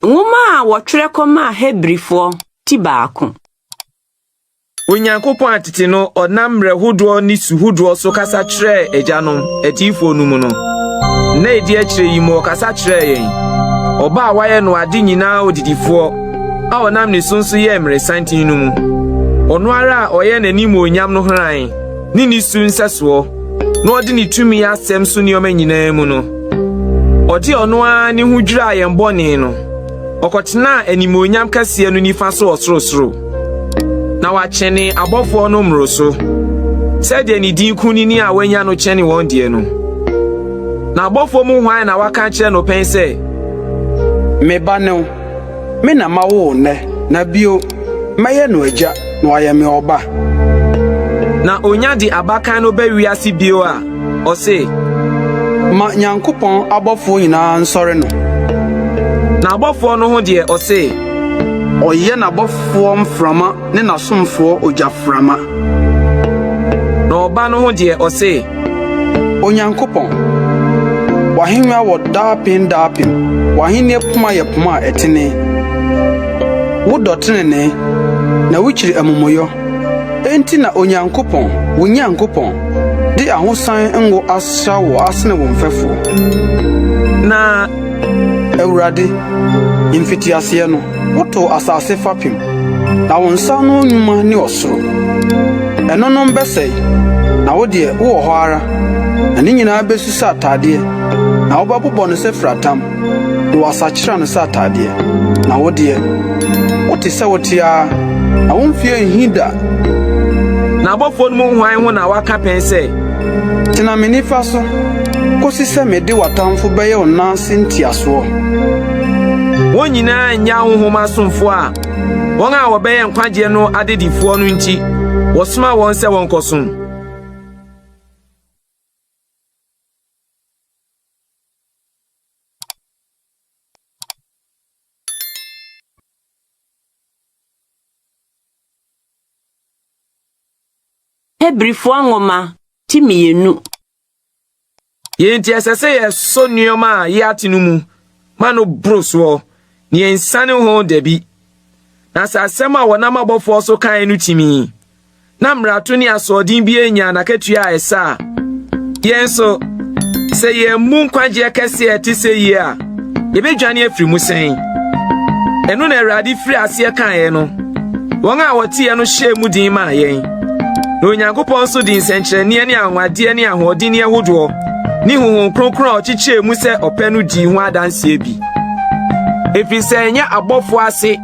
Nwoma a wɔtwerɛ kɔmaa Hebrifoɔ ti baako. Onyankopɔn a tete no ɔnam mmerɛ hodoɔ ne su hodoɔ so kasa kyerɛɛ agyanom, atiyifoɔ no mu no, nna a ɛdi akyire yi mu ɔkasa kyerɛɛ yɛn, ɔba a wayɛ no ade nyinaa odidifoɔ a ɔnam ne so nso yɛɛ mmerɛsanten no mu, ɔno ara a ɔyɛ n'animuonyam no hran. ne ne su nsɛsoɔ, na ɔde ne tumi asɛm so nneɛma nyinaa mu no, ɔde ɔno ara ne ho dwiraa yɛn bɔne no. Ɔkɔtenaa animuonyam kɛseɛ no nifa so wɔ sorosoro, na wakyɛne abɔfoɔ no mmoroso, sɛdeɛ ne din kunini a wanya no kyɛne wɔn deɛ no. Na abɔfoɔ mu hwan na waka akyerɛ no pɛn sɛ, Me ba ne wo? Me na mawo wo nnɛ, na bio, mɛyɛ no agya, na wayɛ me ɔba. Na onya de abakan no ba wiase bio a, ɔse. Ma Nyankopɔn abɔfoɔ nyinaa nsɔre no. N'abɔfoɔ no ho deɛ, ɔse. Ɔyɛ n'abɔfoɔ mframa. ne n'asomfoɔ ogyaframa. Na Ɔba no ho deɛ, ɔse. Onyankopɔn, W'ahennwa wɔ daapem daapem, W'ahennie poma yɛ poma a ɛtene. Wodɔ tenenee, na wukyiri amumuyɔ. Enti na Onyankopɔn, wo Nyankopɔn, de ahosan ngo asra wo asene wo mfɛfoɔ. Na Awurade, mfitiaseɛ no. Wotoo asase fapem, na wo nsa ano nnwuma ne ɔsoro. Ɛnonom bɛsɛe, na wo deɛ wowɔ hɔ ara, na ne nyinaa besu sɛ atadeɛ, na wobɛbobɔ no sɛ firatam, na wɔasakyera no sɛ atadeɛ. Na wo deɛ, wote sɛ wote ara, na wo mfeɛ nhi da. N'abɔfoɔ no mu hwan ho na waka pɛn sɛ. Tena me nifa so, kosi sɛ mede w'atamfo bɛyɛ wo nan ase ntiasoɔ? Wɔn nyinaa nyaa honhom asomfo a wɔn a wɔbɛyɛ nkwagyeɛ no adedifoɔ no nti, wɔsoma wɔn sɛ wɔnkɔsom. Hebrifoɔ nwoma ti mmienu Yei nti ɛsɛ sɛ yɛsɔ nneɛma a yɛate no mu ma no boro soɔ na yɛnsane ho dabi. Na sɛ asɛm a wɔnam abɔfoɔ so kae no tumi, na mmarato ne asoɔden biara nyaa n'akatua a ɛsɛ a, yɛn nso, sɛ yɛammu nkwagyeɛ kɛseɛ a ɛte sɛ yei a, Yebedwane afiri mu sɛn? Ɛno na Awurade firi aseɛ kaeɛ no. Wɔn a wɔteɛ no hyɛɛ mu den maa yɛn. Na Onyankopɔn nso de nsɛnkyerɛnneɛ ne anwanwadeɛ ne ahoɔdenneɛ hodoɔ ne honhom kronkron a ɔkyekyɛɛ mu sɛ ɔpɛ no dii ho adanseɛ bi. Ɛfiri sɛ ɛnyɛ abɔfoɔ ase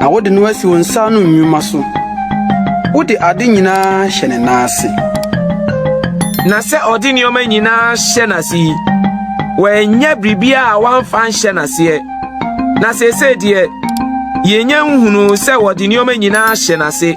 Na wode no asi wo nsa ano nnwuma so. Wode ade nyinaa hyɛ ne nan ase. Na sɛ ɔde nneɛma nyinaa hyɛ n'ase yi, wɔanya biribiara a wɔamfa nhyɛ n'aseɛ. Na seesei deɛ, yɛnya nhunuu sɛ wɔde nneɛma nyinaa hyɛ n'ase.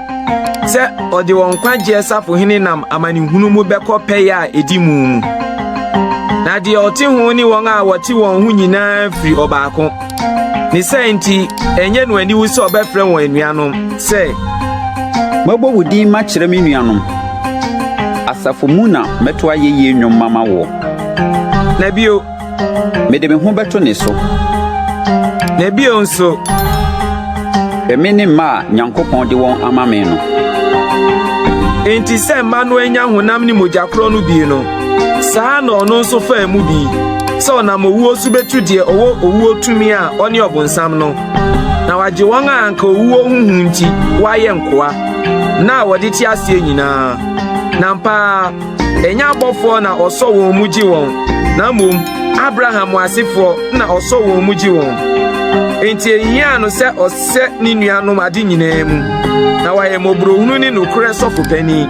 sɛ ɔde wɔn nkwagyeɛ safohene nam amanehunu mu bɛkɔ pɛyɛ a ɛdi mu mu. Na deɛ ɔte ho ne wɔn a wɔte wɔn ho nyinaa firi ɔbaako. Ne sɛ nti, ɛnyɛ no aniwu sɛ ɔbɛfrɛ wɔn anuanom sɛ. Mɛbɔ wo din makyerɛ me nuanom. Asafo mu na mɛto ayɛyie nnwom mama woɔ. Na bio, Mede me ho bɛto ne so. Na bio nso. Hwɛ me ne mma a Nyankopɔn de wɔn ama me no. Enti sɛ mma no anya honam ne mogya korɔ no bi no, saa na ɔno nso faa mu bi, sɛ ɔnam owuo so betu deɛ ɔwɔ owuo tumi a ɔne ɔbonsam no, na wagye wɔn a anka owuo ho hu nti wɔayɛ nkoa, na a wɔde te aseɛ nyinaa. Na ampa ara Ɛnyɛ abɔfoɔ na ɔsɔ wɔn mu gye wɔn, na mmom Abraham asefoɔ na ɔsɔ wɔn mu gye wɔn. Enti ɛhiaa no sɛ ɔsɛ ne nuanom ade nyinaa mu, na wayɛ mmɔborɔhunu ne nokorɛ sɔfo panin,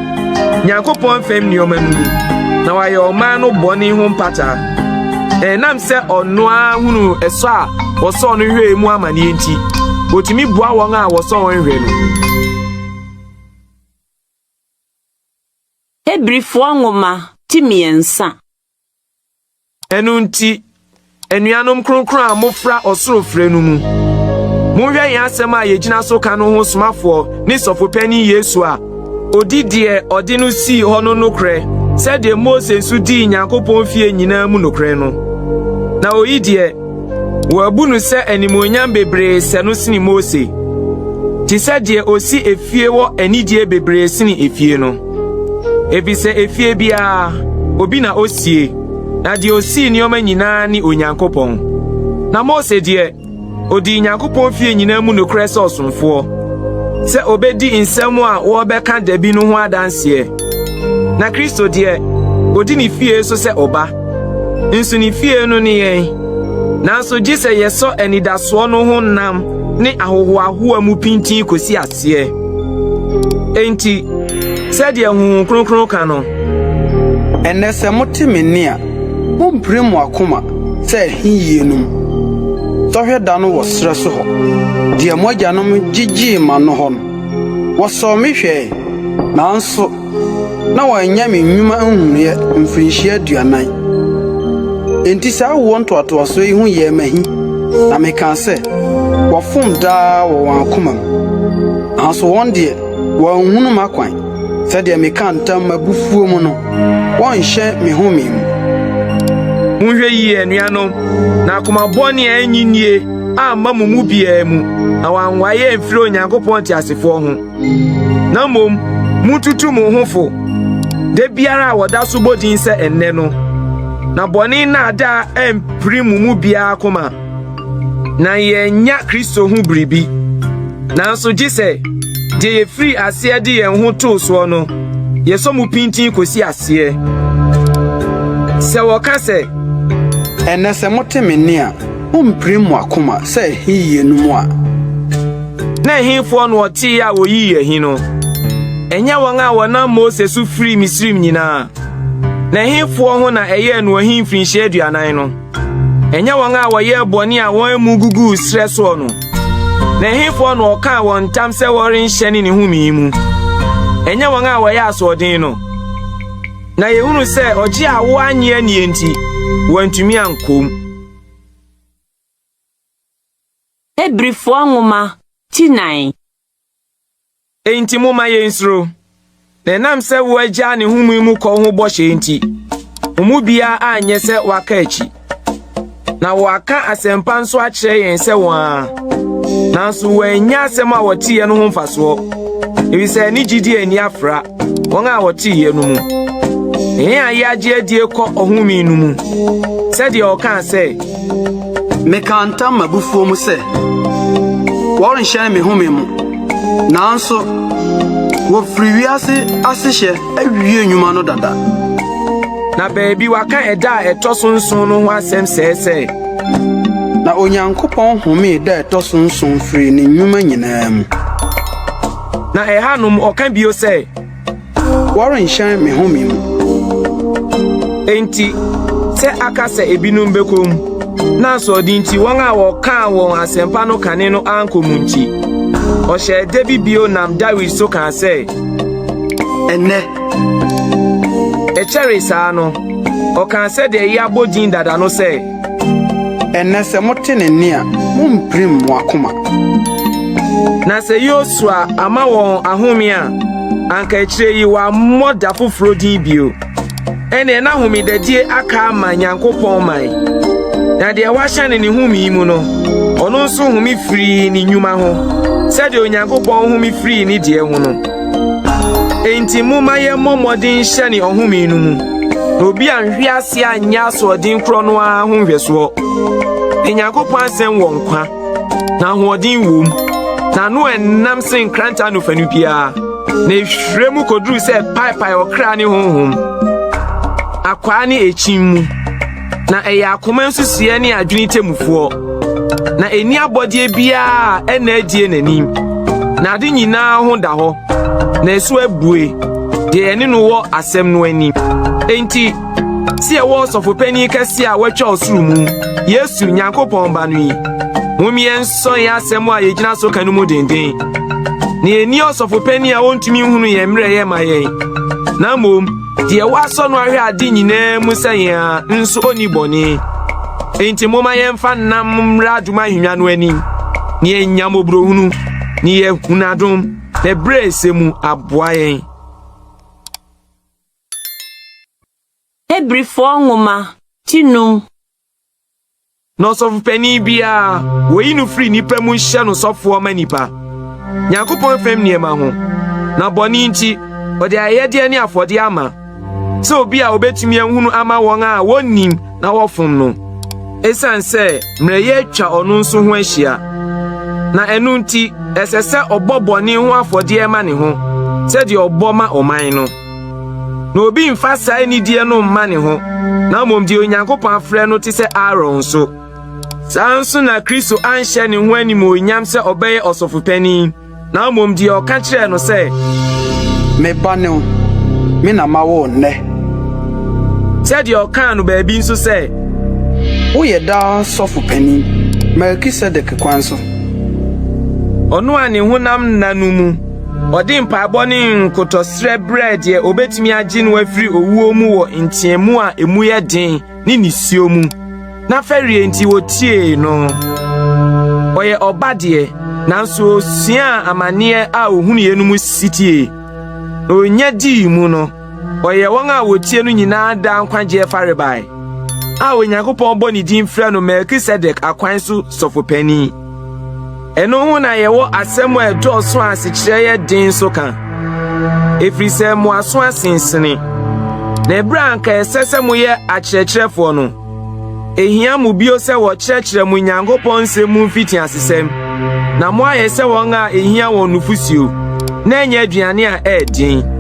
Nyankopɔn fam nneɛma no mu, na wayɛ ɔman no bɔne ho mpata. Ɛnam sɛ ɔno ara hunuu ɛsɔ a wɔsɔɔ no hwɛe mu amanneɛ nti, ɔtumi boa wɔn a wɔsɔ wɔn hwɛ no. Hebrifoɔ Nwoma ti mmiɛnsa. Ɛno nti, anuanom kronkron a mofra ɔsoro frɛ no mu, monhwɛ yɛn asɛm a yɛgyina so ka no ho somafoɔ ne sɔfo panin Yesu a, ɔdi deɛ ɔde no sii hɔ no nokorɛ sɛdeɛ Mose nso dii Nyankopɔn fie nyinaa mu nokorɛ no, na ɔyi deɛ Wɔabu no sɛ animuonyam bebree sɛ no sene Mose, te sɛ deɛ ɔsi efie wɔ anigyeɛ bebree sene efie no. Efisɛ efie biara, obi na osie, na deɛ osii nneɛma nyinaa ne Onyankopɔn. Na Mose deɛ, odii Nyankopɔn fie nyinaa mu nokorɛ sɛ ɔsomfoɔ, sɛ obedi nsɛm a wɔbɛka da bi no ho adanseɛ. Na Kristo deɛ, odi ne fie so sɛ ɔba. nso ne fie no ne yɛn. Nanso gye sɛ yɛsɔ anidasoɔ no ho nam ne ahohoahoa mu pintinn kɔsi aseɛ. Enti, sɛdeɛ Honhom Kronkron ka no, Ɛnnɛ sɛ mote me nne a, mompire mo akoma sɛ ɛhe yienum sɔhwɛ da no wɔ serɛ so hɔ, deɛ mo agyanom gyegyee manno hɔ no. Wɔsɔɔ me hwɛe, nanso na wɔanyɛ me nnwuma nhunuiɛ mfirinhyia aduanan. Enti saa awoɔ ntoatoasoɔ yi ho yɛɛ me ahi, na mekaa sɛ, Wɔfom daa wɔ wɔn akomam. Nanso wɔn deɛ, wɔanhunu m'akwan, sɛdeɛ mekaa ntam m'abufuo mu no, wɔnhyɛ me home mu. Monhwɛ yie, anuanom, na akoma bɔne a ɛnnye nnie amma mo mu biara mu, na wɔanwae amfiri Onyankopɔn teasefoɔ ho. na mmom mututu mo ho fo da biara a wɔda so bɔ din sɛ ɛnnɛ no, na bɔne nnaadaa ampiri mo mu biara koma, na yɛannya Kristo ho biribi. Nanso gye sɛ deɛ yɛfiri aseɛ de yɛn ho too soɔ no, yɛsɔ mu pintinn kɔsi aseɛ. Sɛ wɔka sɛ, Ɛnnɛ sɛ mote me nne a, Mumpirim mo akoma sɛ ɛhe yiye no mu a. Na ɛhefoɔ na wɔteeɛ a wɔyii ahi no? Ɛnyɛ wɔn a wɔnam Mose so firii Misraim nyinaa? Na ɛhefoɔ ho na ɛyɛɛ no ahi mfirinhyia aduanan no? Ɛnyɛ wɔn a wɔyɛɛ bɔne a wɔn amu guguu serɛ soɔ no? Na ɛhefoɔ na ɔkaa wɔn ntam sɛ wɔrenhyɛne ne home yi mu? Ɛnyɛ wɔn a wɔyɛ asoɔden no? Na yɛhunu sɛ ɔgye a woannye annie nti, wɔantumi ankɔ mu. Hebrifoɔ nwoma ti nan. Enti momma yɛnsuro, na ɛnam sɛ wo agya ne homee mu kɔ ho bɔhyɛ nti, mo mu biara anyɛ sɛ waka akyi. Na wɔaka asɛmpa nso akyerɛ yɛn sɛ wɔn a, nanso wɔannya asɛm a wɔteeɛ no ho mfasoɔ, efisɛ ne gyidie anni afra. wɔn a wɔte yɛ no mu. Ne yɛn a yɛagye adie kɔ ɔhome no mu, sɛdeɛ ɔkaa sɛ. Mekaa ntam m'abufuo mu sɛ, wɔrenhyɛn me home mu, nanso wɔfiri wiase asehyɛ awie nnwuma no dada. Na baabi waka ɛda a ɛtɔ so nson no ho asɛm sɛɛ sɛ. Na Onyankopɔn homee da ɛtɔ so nson firii ne nnwuma nyinaa mu. Na ɛhanom ɔka bio sɛ, Wɔrenhyɛn me home mu. Enti sɛ aka sɛ ebinom bɛkɔ mu, na asoɔden nti wɔn a wɔkaa wɔn asɛmpa no kane no ankɔ mu nti, ɔhyɛɛ da bi bio nam Dawid so kaa sɛ, Ɛnnɛ, ɛkyɛree saa no, ɔkaa sɛdeɛ yɛabɔ din dada no sɛ, Ɛnnɛ, sɛ mote ne nne a, mompirim mo akoma. Na sɛ Yosua ama wɔn ahome a, anka akyire yi wɔammɔ da foforɔ din bio. Ɛnneɛ na homedadie aka ama Nyankopɔn man, na deɛ wahyɛ no ne home yi mu no, ɔno nso home firii ne nnwuma ho, sɛdeɛ Onyankopɔn home firii ne deɛ ho no. Enti momma yɛmmɔ mmɔden nhyɛne ɔhome no mu, na obi anhwe ase anyɛ asoɔden korɔ no ara ho nhwɛsoɔ. Na Nyankopɔn asɛm wɔ nkwa, na ahoɔden wom, na ano ɛnnam sen nkranta anofanu biara, na ɛhwirɛ mu kɔduru sɛ paepae ɔkra ne honhom, akwaa ne ɛkyin mu. na ɛyɛ akoma nsusuiɛ ne adwene temmufoɔ. Na ɛnni abɔdeɛ biara a ɛnna adie n'anim, na ade nyinaa ho da hɔ, na ɛso abue deɛ ɛne no wɔ asɛm no anim. Enti, sɛ ɛwɔ ɔsɔfopanin kɛseɛ a watwa ɔsoro mu, Yesu, Nyankopɔn Ba no yi, mom yɛnsɔ yɛn asɛm a yɛgyina so ka no mu denden. Na ɛnni ɔsɔfopanin a ɔntumi nhunu yɛn mmerɛyɛ ma yɛn, na mmom Deɛ wasɔ no ahwɛ ade nyinaa mu sɛ yɛn a nso ɔnni bɔne. Enti momma yɛmfa nnam mmra adom ahennwa no anim na yɛnya mmɔborɔhunu na yɛahunu adom na ɛberɛ ɛsɛ mu aboa yɛn. Hebrifoɔ nwoma ti num Na ɔsɔfopanyin biara, woyi no firi nnipa mu hyɛ no sɔfoɔ ma nnipa, Nyankopɔn fam nneɛma ho, na bɔne nti, ɔde ayɛyɛdeɛ ne afɔdeɛ ama, sɛ obi a obetumi ahunu ama wɔn a wɔnnim na wɔfom no, esiane sɛ mmerɛyɛ atwa ɔno nso ho ahyia. Na ɛno nti, ɛsɛ sɛ ɔbɔ bɔne ho afɔdeɛ ma ne ho, sɛdeɛ ɔbɔ ma ɔman no. Na obi mfa saa anidie no mma ne ho, na mmom deɛ Onyankopɔn afrɛ no te sɛ Aaron nso. Saa nso na Kristo anhyɛ ne ho animuonyam sɛ ɔbɛyɛ ɔsɔfopanin, na mmom deɛ ɔka kyerɛɛ no sɛ, Me ba ne wo, me na ma wo nnɛ. Sɛdeɛ ɔkaa no baabi nso sɛ. Woyɛ daa sɔfopanin, Melkisedek kwan so. Ɔno a ne honam nna no mu. Ɔde mpaebɔ ne nkotɔsrɛ brɛɛ deɛ obetumi agye no afiri owuo mu wɔ nteamu a emu yɛ den ne nisuo mu. Na fɛreɛ nti wɔtiee no. Ɔyɛ ɔba deɛ, nanso ɔsuaa amanneɛ a ɔhunuiɛ no mu sitie. Na ɔnya dii mu no, ɔyɛ wɔn a wɔtie no nyinaa daa nkwagyeɛ farebae a Onyankopɔn bɔ ne din frɛ no Melkisedek akwan so sɔfopanin. Ɛno ho na yɛwɔ asɛm a ɛdɔɔso a asekyerɛ yɛ den nso ka, ɛfiri sɛ mo aso asensene. Na ɛberɛ a anka ɛsɛ sɛ moyɛ akyerɛkyerɛfoɔ no, ɛhia mo bio sɛ wɔkyerɛkyerɛ mo Nyankopɔn nsɛm mu mfitiasesɛm, na moayɛ sɛ wɔn a ɛhia wɔn nufosuo, na ɛnyɛ aduane a ɛyɛ den.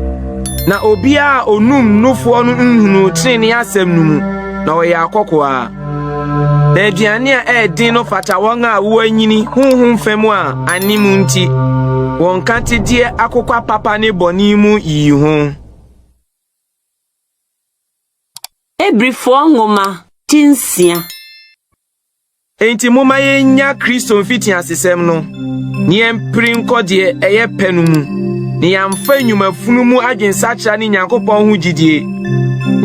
Na obiara a ɔnum nufoɔ no nhunuu trenee asɛm no mu, na ɔyɛ akɔkoaa. Na aduane a ɛyɛ den no fata wɔn a wɔanyini honhom fã mu a anim nti wɔn nkatedie akokwa papa ne bɔne mu yi ho. Hebrifoɔ nwoma ti nsia. Enti momma yennya Kristo mfitiasesɛm no. na yɛmpere nkɔ deɛ ɛyɛ pɛ no mu, na yɛamfa nnwuma funu mu adwensakyera ne Nyankopɔn ho gyidie,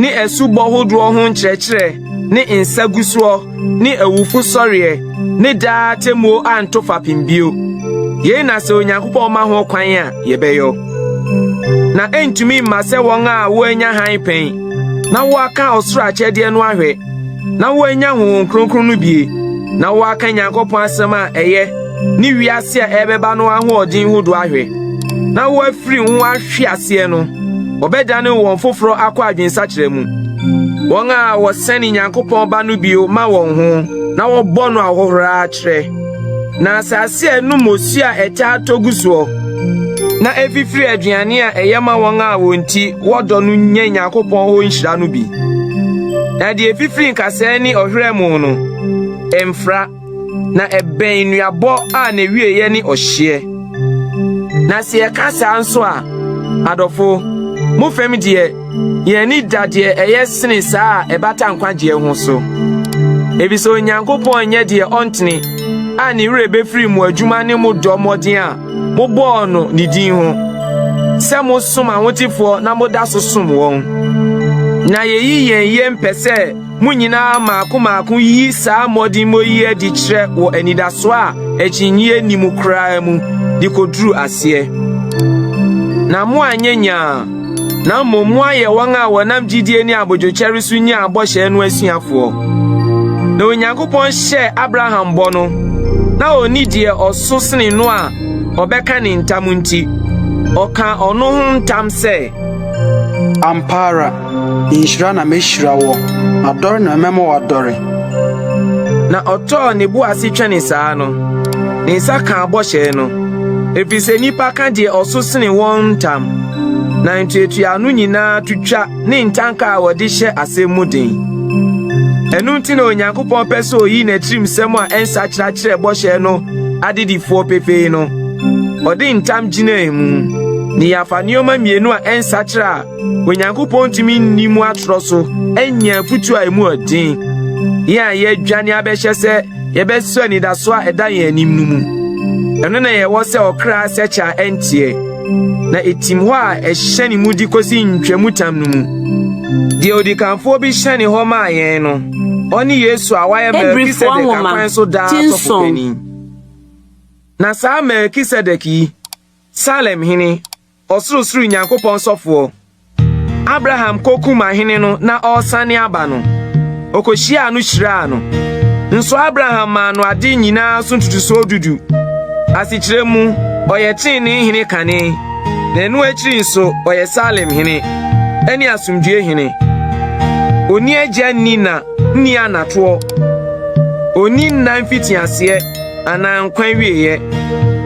ne asubɔ hodoɔ ho nkyerɛkyerɛ, ne nsagusoɔ, ne awufo sɔreɛ, ne daa atemmuo anto fapem bio. Yei na sɛ Onyankopɔn ma ho kwan a, yɛbɛyɔ. Na ɛntumi mma sɛ wɔn a wɔanya hann pɛn na wɔaka ɔsoro akyɛdeɛ no ahwɛ na wɔanya honhom kronkron no bue na wɔaka Nyankopɔn asɛm a ɛyɛ ne wiase a ɛbɛba no ahoɔden ho do ahwɛ na wɔafiri ho ahwe aseɛ no, wɔbɛdane wɔn foforɔ akɔ adwensakyerɛ mu. Wɔn a wɔsɛne Nyankopɔn ba no bio ma wɔn ho na wɔbɔ no ahohora kyerɛ Na asase a ɛnom osu a ɛtaa tɔ gu soɔ na ɛfifiri aduane a ɛyɛ ma wɔn a wɔn nti wɔdɔ no nya Nyankopɔn hɔ nhyira no bi. Na deɛ ɛfifiri nkasɛɛ ne ɔhwerɛ mu no, ɛmfra, na ɛbɛn nnuabɔ a n'awieeɛ ne ɔhyeɛ. Na sɛ yɛka saa nso a, adɔfo, mo fam deɛ, Yɛn ani da deɛ ɛyɛ sene saa a ɛbata nkwagyeɛ ho so, efisɛ Onyankopɔn nyɛ deɛ ɔntene a ne werɛ befiri mo adwuma ne mo dɔ mmɔden a mobɔɔ no ne din ho, sɛ mosom ahotefoɔ na moda so som wɔn. Na yeyi yɛn yam pɛ sɛ Mo nyinaa mmaako mmaako yi saa mmɔdemmɔ yi adi kyerɛ wɔ anidaso a akyinnye nni mu koraa mu de koduru aseɛ. Na moanyɛ nyaa, na mmom moayɛ wɔn a wɔnam gyidie ne abodwokyɛre so nyaa bɔhyɛ no asuafoɔ. Na Onyankopɔn hyɛɛ Abraham bɔ no, na ɔnni deɛ ɔso sene no a ɔbɛka ne ntam nti, ɔkaa ɔno ho ntam sɛ, Ampa ara, Nhyira na mehyira woɔ, adɔre na mɛma woadɔre. Na ɔtɔɔ ne bo ase twɛnee saa no, ne nsa kaa bɔhyɛ no, ɛfiri sɛ nnipa ka deɛ ɔso sene wɔn ntam, na ntuatuaano nyinaa to twa ne ntanka a wɔde hyɛ asɛm mu den. Ɛno nti na Onyankopɔn pɛ sɛ ɔyi n'atirimsɛm a ɛnsakyera kyerɛ bɔhyɛ no adedifoɔ pefee no. Ɔde ntam gyinaa mu, ne yɛafa nneɛma mmienu a ɛnsakyera a Onyankopɔn ntumi nni mu atorɔ so anya afutu a emu yɛ den, yɛn a yɛadwane abɛhyɛ sɛ yɛbɛsɔ anidaso a ɛda yɛn anim no mu. Ɛno na yɛwɔ sɛ ɔkra sɛkyɛ a ɛnteɛ, na etim hɔ a ɛhyɛ ne mudi kosi ntwamutam no mu. Deɛ odikanfoɔ bi hyɛne hɔ maa yɛn no, ɔne Yesu a wayɛ Melkisedek akwan so daa sɔfopanin. Na saa Melkisedek yi, Salem hene, Ɔsorosoro Nyankopɔn sɔfoɔ. Abraham kokum ahene no na ɔresane aba no, okohyiaa no hyiraa no. Nso Abraham maa no ade nyinaa so ntotosoɔ dudu. Asekyerɛ mu, ɔyɛ tenenee hene kane, na ɛno akyiri nso ɔyɛ Salem hene ne asomdwoeɛ hene. Ɔnni agya nni na nni anatoɔ. Ɔnni nna mfitiaseɛ. anaa nkwa awieeɛ,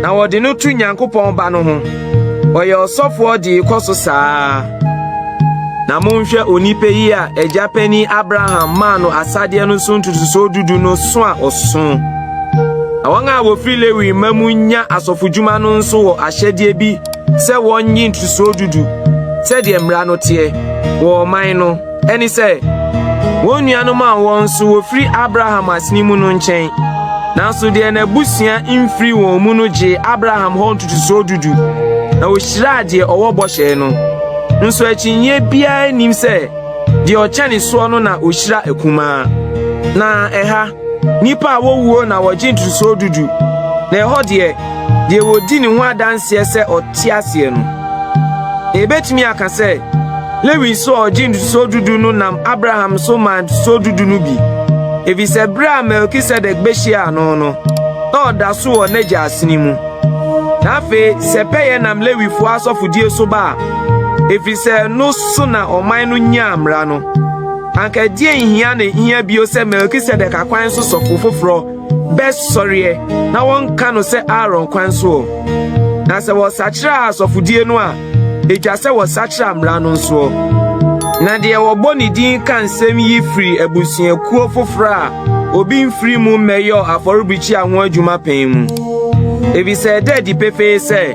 na wɔde no to Nyankopɔn Ba no ho. Ɔyɛ ɔsɔfoɔ de rekɔ so saa ara. Na monhwɛ onipa yi a agya panin Abraham maa no asadeɛ no so ntotosoɔ dudu no so a ɔso. Na wɔn a wɔfiri Lewi mma mu nya asɔfodwuma no nso wɔ ahyɛdeɛ bi sɛ wɔnnye ntotosoɔ dudu sɛdeɛ mmara no teɛ wɔ ɔman no Ɛne sɛ, wɔn nuanom a wɔn nso wɔfiri Abraham aseni mu no nkyɛn, nanso deɛ n'abusua mfiri wɔn mu no gyee Abraham hɔ ntotosoɔ dudu, na wɔhyiraa deɛ ɔwɔ bɔhyɛɛ no. Nso akyinnyeɛ biara nnim sɛ deɛ ɔkyɛne soɔ no na ɔhyira akumaa. Na ɛha. Nnipa a wɔwuo na wɔgye ntotosoɔ du du, na ɛhɔ deɛ, deɛ wɔdi ne ho adanseɛ sɛ ɔte aseɛ no. Na yɛbɛtumi aka sɛ, Lewi nso a ɔgye ntotosoɔ du du no nam Abraham so maa ntotosoɔ du du no bi, ɛfiri sɛ berɛ a Melkisedek bɛhyiaa no no, na ɔda so wɔ n'agya asene mu. Na afei, sɛ pɛyɛ nam Lewifoɔ asɔfodie so ba a, ɛfiri sɛ ɛno so na ɔman no nyaa mmara no. Anka ɛdeɛn nhia ne hia bio sɛ Melkisedek akwan so sɔfo foforɔ bɛsɔreɛ na wɔnka no sɛ Aaron kwan soɔ? Na sɛ wɔsakyera asɔfodie no a, ɛtwa sɛ wɔsakyera mmara no nsoɔ. Na deɛ wɔbɔ ne din ka nsɛm yi firi abusuakuo foforɔ a obi mfiri mu mmɛyɔɔ afɔrebukyia ho adwuma pɛn mu, efisɛ ɛda adi pefee sɛ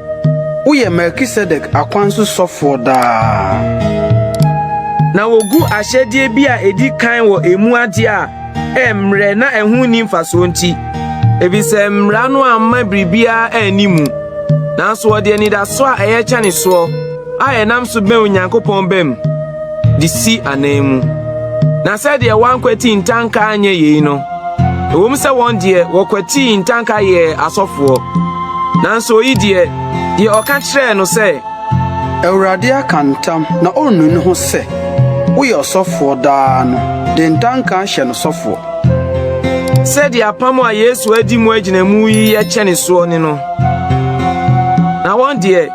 Woyɛ Melkisedek akwan so sɔfoɔ daa. Na wogu ahyɛdeɛ bi a ɛdi kan wɔ emu adeɛ a ɛmmerɛ na ɛho nni mfasoɔ nti, efisɛ mmara no amma biribiara anni mu. Nanso wɔde anidasoɔ a ɛyɛ kyɛne soɔ. a yɛnam so bɛn Onyankopɔn bam de si anan mu. Na sɛdeɛ wɔankwati ntanka anyɛ yei no, ɛwom sɛ wɔn deɛ wɔkwatii ntanka yɛɛ asɔfoɔ, nanso oyi deɛ, deɛ ɔka kyerɛɛ no sɛ, Awurade aka ntam na ɔrennu ne ho sɛ woyɛ ɔsɔfoɔ daa no de ntanka ahyɛ no sɔfoɔ. Sɛdeɛ apam a Yesu adi mu agyinamu yi yɛ kyɛne soɔ ne no. Na wɔn deɛ,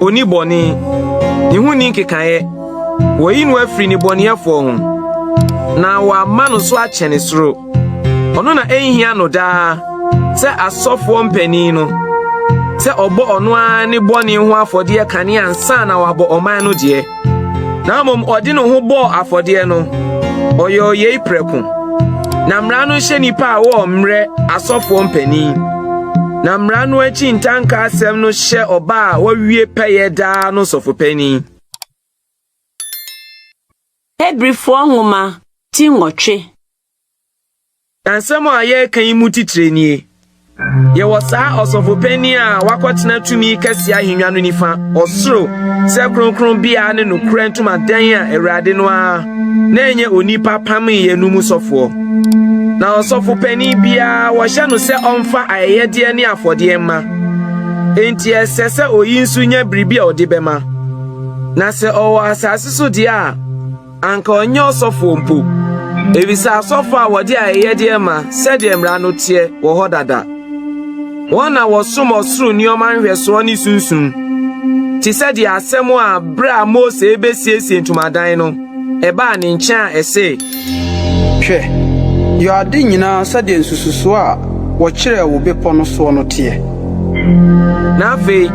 Onni bɔne, ne ho nni nkekaeɛ. Wɔayi no afiri nnebɔneyɛfoɔ ho, na wɔama no so akyɛne soro. Ɔno na ɛnhia no daa sɛ asɔfoɔ mpanin no sɛ ɔbɔ ɔno ara ne bɔne ho afɔdeɛ kane ansa na wabɔ ɔman no deɛ. na mmom ɔde ne ho bɔɔ afɔdeɛ no, ɔyɛɛ yei prɛko. Na mmara no hyɛ nnipa a wɔwɔ mmerɛ asɔfoɔ mpanin. Na mmara no akyi ntanka asɛm no hyɛ ɔba a wawie pɛyɛ daa no sɔfopanin. Hebrifoɔ nwoma ti nwɔtwe. Nsɛm a yɛreka yi mu titire nie, Yɛwɔ saa ɔsɔfo panyin a wakɔtena tumi kɛse ahengua no nifa, ɔsoro, sɛ kronkronbea ne nokorɛ ntomadan a Awurade no ara na ɛnyɛ onipa pamee no mu sɔfoɔ. Na ɔsɔfo panyin biara wɔhyɛ no sɛ ɔmfa ayɛyɛdeɛ ne afɔdeɛ mma. Enti ɛsɛ sɛ oyi nso nya biribi a ɔde bɛma. Na sɛ ɔwɔ asase so deɛ a, Anka ɔnyɛ ɔsɔfoɔ mpo, ɛfiri sɛ asɔfoɔ a wɔde ayɛyɛdeɛ ma sɛdeɛ mmara no teɛ wɔ hɔ dada. Wɔn na wɔsom ɔsoro nneɛma nhwɛsoɔ ne sunsum, te sɛ deɛ asɛm a berɛ a Mose rebɛsiesie ntomadan no, ɛbaa ne nkyɛn a ɛse, Hwɛ, yɔ ade nyinaa sɛdeɛ nsususoɔ a wɔkyerɛɛ wo bepɔ no soɔ no teɛ. na afei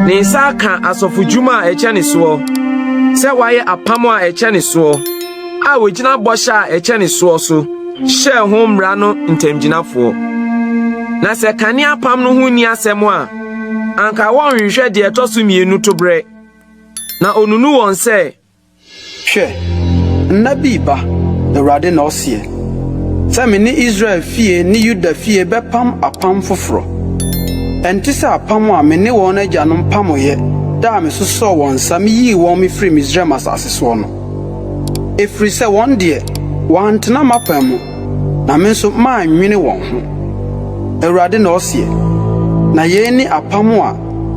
ne nsa aka asɔfodwuma a ɛkyɛ ne soɔ sɛ wayɛ apam a ɛkyɛ ne soɔ a wɔgyina bɔhyɛ a ɛkyɛ ne soɔ so hyɛɛ ho mmara no ntamgyinafoɔ na sɛ kane apam no ho nni asɛm a anka wɔnhwehwɛ deɛ ɛtɔ so mmienu to berɛ na ɔnunu wɔn sɛ Hwɛ! Nna bi reba, Awurade na ɔseɛ, sɛ me ne Israel fie ne Yuda fie bɛpam apam foforɔ. Ɛnte sɛ apam a me ne wɔn agyanom pamoeɛ da a mesosɔɔ wɔn nsa meyii wɔn firii Misraim asase soɔ no. Ɛfiri sɛ wɔn deɛ, wɔantena m'apam mu, na me nso mannwene wɔn ho, Awurade na ɔseɛ. Na yei ne apam a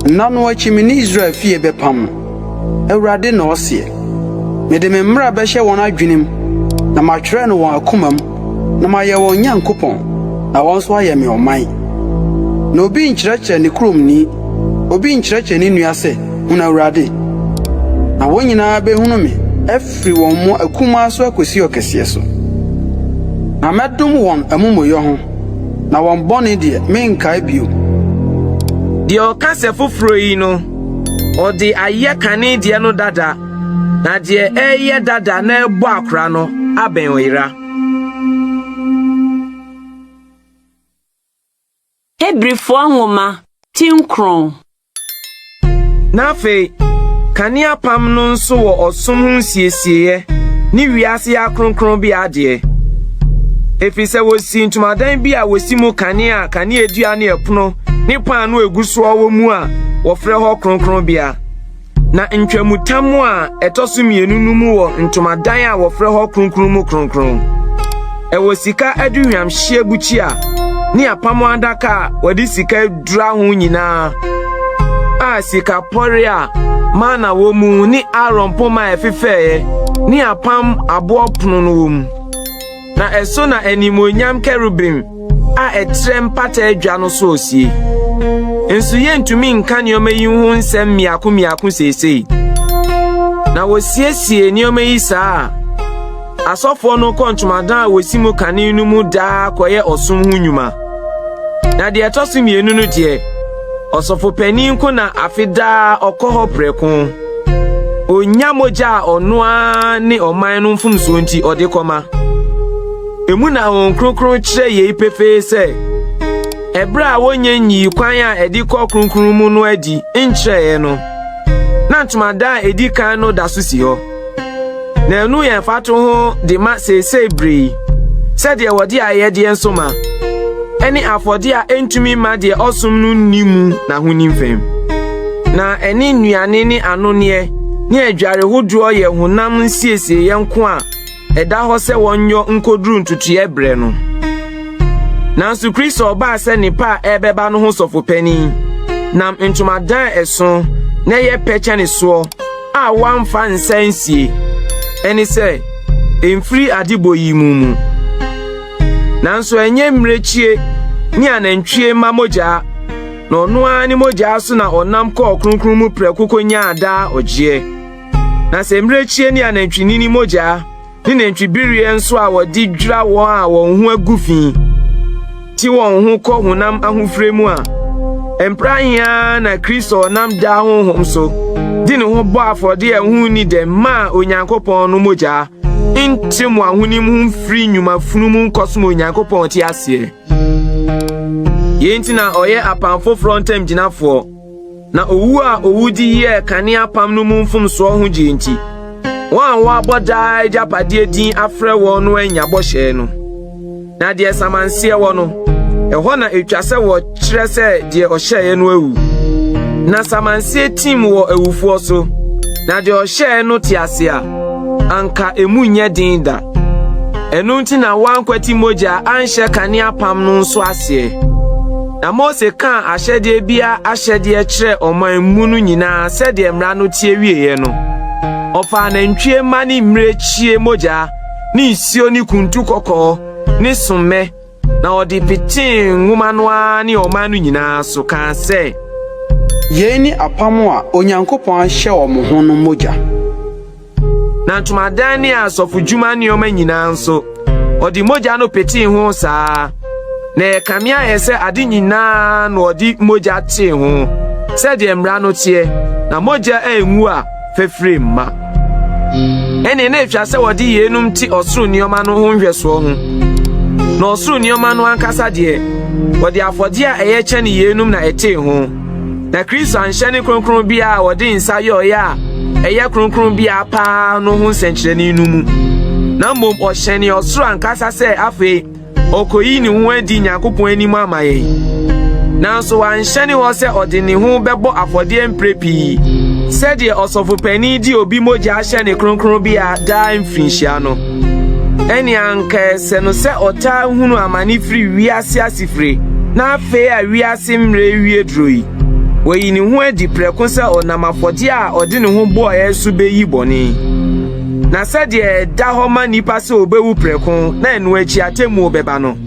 nna no akyi me ne Israel fie bɛpam no. Awurade na ɔseɛ. Mede me mmara bɛhyɛ wɔn adwenem, na matwerɛ no wɔn akomam, na mayɛ wɔn Nyankopɔn, na wɔn nso ayɛ me ɔman. Na obi nkyerɛkyerɛ ne kuromni, obi nkyerɛkyerɛ ne nua sɛ, Hunu Awurade! Na wɔn nyinaa bɛhunu me, afiri wɔn mu akumaa so akɔsi ɔkɛseɛ so. Na mɛdom wɔn amumuyɔ ho, na wɔn bɔne deɛ, merenkae bio. Deɛ ɔka sɛ foforɔ yi no. Ɔde ayɛ kane deɛ no dada, na deɛ ɛreyɛ dada na ɛrebɔ akora no abɛn ɔyera. Hebrifoɔ Nwoma, Ti Nkron. Na afei, kane apam no nso wɔ ɔsom ho nsiesieɛ ne wiase ha kronkronbea adeɛ, ɛfiri sɛ wɔsii ntomadan bi a wɔsi mu kane a kaneadua ne ɛpono ne paano a egu so wɔ mu a wɔfrɛ hɔ kronkronbea. Na ntwamutam a ɛtɔ so mmienu no mu wɔ ntomadan a wɔfrɛ hɔ kronkron mu kronkron. Ɛwɔ sika aduhwamhyeɛ bukyia ne apam adaka a wɔde sika adura ho nyinaa a sika pɔre a mana wɔ mu ne Aaron poma a ɛfefɛeɛ ne apam aboɔ pono no wɔ mu. na ɛso na animuonyam kerubim a ɛtrɛ mpata adwa no so osie. Nso yentumi nka nneɛma yi ho nsɛm mmiako mmiako seesei. Na wosiesie nneɛma yi saa a, asɔfoɔ no kɔ ntomadan a wosi mu kane no mu daa kɔyɛ ɔsom ho nnwuma. Na deɛ ɛtɔ so mmienu no deɛ, ɔsɔfo panyin nko na afe daa ɔkɔ hɔ prɛko. Onya mogya a ɔno ara ne ɔman no mfomsoɔ nti ɔde kɔma. Emu na Honhom Kronkron kyerɛ yei pefee sɛ ɛberɛ a wɔnyɛ nyii kwan a ɛde kɔ kronkron mu no adi nkyerɛeɛ no, na ntomadan a ɛdi kan no da so si hɔ. Na ɛno yɛ mfatoho de ma seesei bere yi, sɛdeɛ wɔde ayɛdeɛ nso ma, ɛne afɔdeɛ a ɛntumi mma deɛ ɔsom no nni mu n'ahonim fam. Na ɛne nnuane ne anoneɛ ne adware hodoɔ yɛ honam nsiesieeɛ nko a ɛda hɔ sɛ wɔnyɔ nkɔduru ntotoeɛ berɛ no. Nanso Kristo ɔbaa sɛ nnepa a ɛrebɛba no ho sɔfopanin nam ntomadan a ɛso na ɛyɛ pɛ kyɛne soɔ a wɔamfa nsa nsie ɛne sɛ mfiri adebɔ yi mu mu. Nanso ɛnyɛ mmirekyie ne anantwie mma mogyaa na ɔno ara ne mogyaa so na ɔnam kɔɔ kronkron mu prɛko konyaa daa ɔgyeɛ. Na sɛ mmirekyie ne anantwinini mogyaa ne nantwibereɛ nso a wɔde dwira wɔn a wɔn ho agu fi te wɔn ho kɔ honam ahofire mu a mpra heaa na Kristo ɔnam daa honhom so de ne ho bɔ afɔde a ɛho nni dɛm maa Onyankopɔn no mogyaa nte mo ahonim ho mfiri nnwuma funu mu nkɔsom Onyankopɔn te aseɛ. Yei nti na ɔyɛ apam foforɔ ntam gyinafoɔ. Na owu a owu de yɛɛ kane apam no mu mfomsoɔ ho gyeɛ nti, wɔn a wɔabɔ daa agyapadeɛ din afrɛ wɔn no annya bɔhyɛ no. Na deɛ samanseɛ wɔ no, ɛhɔ na ɛtwa sɛ wɔkyerɛ sɛ deɛ ɔhyɛeɛ no awu. Na samanseɛ tim wɔ awufoɔ so, na deɛ ɔhyɛeɛ no te ase a, anka emu nyɛ den da. Ɛno nti na wɔankwati mogya anhyɛ kane apam no nso aseɛ. Na Mose kaa ahyɛdeɛ biara ahyɛdeɛ kyerɛɛ ɔman mu no nyinaa sɛdeɛ mmara no teɛ wieeɛ no, ɔfaa nantwie mma ne mmirekyie mogya ne nsuo ne kuntu kɔkɔɔ ne sommɛ na ɔde petee nwoma no ara ne ɔman no nyinaa so kaa sɛ, Yei ne apam a Onyankopɔn ahyɛ wɔn ho no mogya. Na ntomadan ne asɔfodwuma nneɛma nyinaa nso, ɔde mogya no petee ho saa. Na ɛyɛ kame ayɛ sɛ ade nyinaa na ɔde mogya tee ho sɛdeɛ mmara no teɛ, na mogya a enwu a fafire mma. Ɛnneɛ na ɛtwa sɛ wɔde yeinom te ɔsoro nneɛma no ho nhwɛsoɔ ho. Na ɔsoro nneɛma no ankasa deɛ, wɔde afɔdeɛ a ɛyɛ kyɛne yeinom na ɛtee ho. Na Kristo anhyɛ ne kronkron bea a ɔde nsa yɔɔeɛ a ɛyɛ kronkron bea paa no ho nsɛnkyerɛnne no mu, na mmom ɔhyɛnee ɔsoro ankasa sɛ afei ɔkɔyi ne ho adi Nyankopɔn anim ama yɛn. Nanso wanhyɛne hɔ sɛ ɔde ne ho bɛbɔ afɔdeɛ mprɛ pii sɛdeɛ ɔsɔfopanin de obi mogya hyɛ ne kronkron bea daa mfirinhyia no. Ɛnneɛ anka ɛsɛ no sɛ ɔtaa hunu amane firi wiase asefire na afei a wiase mmerɛ rewie duro yi, wayi ne ho adi prɛko sɛ ɔnam afɔdeɛ a ɔde ne ho bɔeɛ so bɛyi bɔne. Na sɛdeɛ ɛda hɔ ma nnipa sɛ wɔbɛwu prɛko na ɛno akyi atemmuo bɛba no,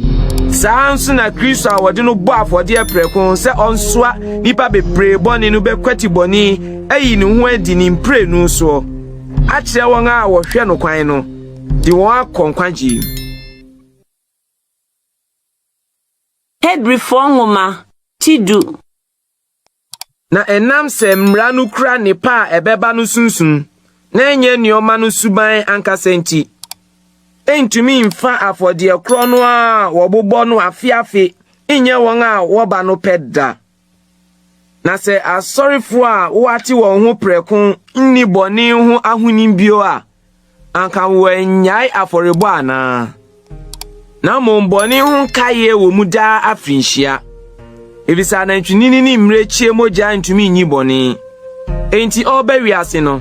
saa ara nso na Kristo a wɔde no bɔ afɔdeɛ prɛko sɛ ɔnsoa nnipa bebree bɔne no bɛkwati bɔne ayi ne ho adi ne mprenu soɔ. Akyerɛ wɔn a wɔhwɛ no kwan no, de wɔn akɔ nkwagye mu. Hebrifoɔ Nwoma Ti Du. Na ɛnam sɛ Mmara no kura nnepa a ɛbɛba no sunsum, na ɛnyɛ nneɛma no suban ankasa nti, ɛntumi mfa afɔdeɛ korɔ no a wɔbobɔ no afe afe nyɛ wɔn a wɔba no pɛ da Na sɛ asɔrefo a wɔate wɔn ho prɛko nni bɔne ho ahonim bio a, anka wɔannyae afɔrebɔ anaa? Na mmom bɔne ho nkaeɛ wɔ mu daa afirinhyia, efisɛ anantwinini ne mmirekyie mogya ntumi nyi bɔne. Enti ɔreba wiase no,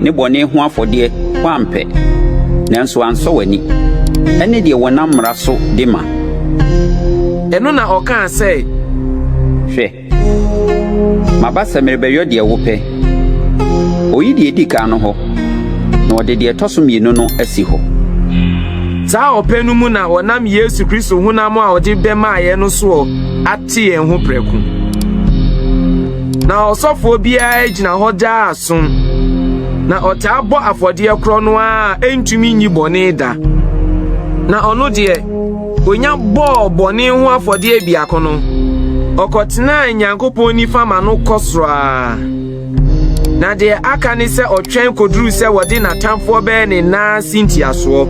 ne bɔne ho afɔdeɛ woampɛ, nanso ansɔ w'ani, ɛne deɛ wɔnam mmara so de ma. Ɛno na ɔkaa sɛ. Hwɛ, maba sɛ merebɛyɔ deɛ wopɛ. Ɔyi deɛ ɛdi kan no hɔ, na ɔde deɛ ɛtɔ so mmienu no asi hɔ. Saa ɔpɛ no mu na ɔnam Yesu Kristo honam a ɔde bɛmaeɛ no soɔ ate yɛn ho prɛko. Na ɔsɔfoɔ biara gyina hɔ daa som, na ɔtaa bɔ afɔdeɛ korɔ no ara a ɛntumi nyi bɔne da. Na ɔno deɛ, ɔnya bɔɔ bɔne ho afɔdeɛ biako no, ɔkɔtenaa Nyankopɔn nifa ma no kɔ soro ara. Na deɛ aka ne sɛ ɔtwɛn kɔduru sɛ wɔde n'atamfoɔ bɛyɛ ne nan ase ntiasoɔ,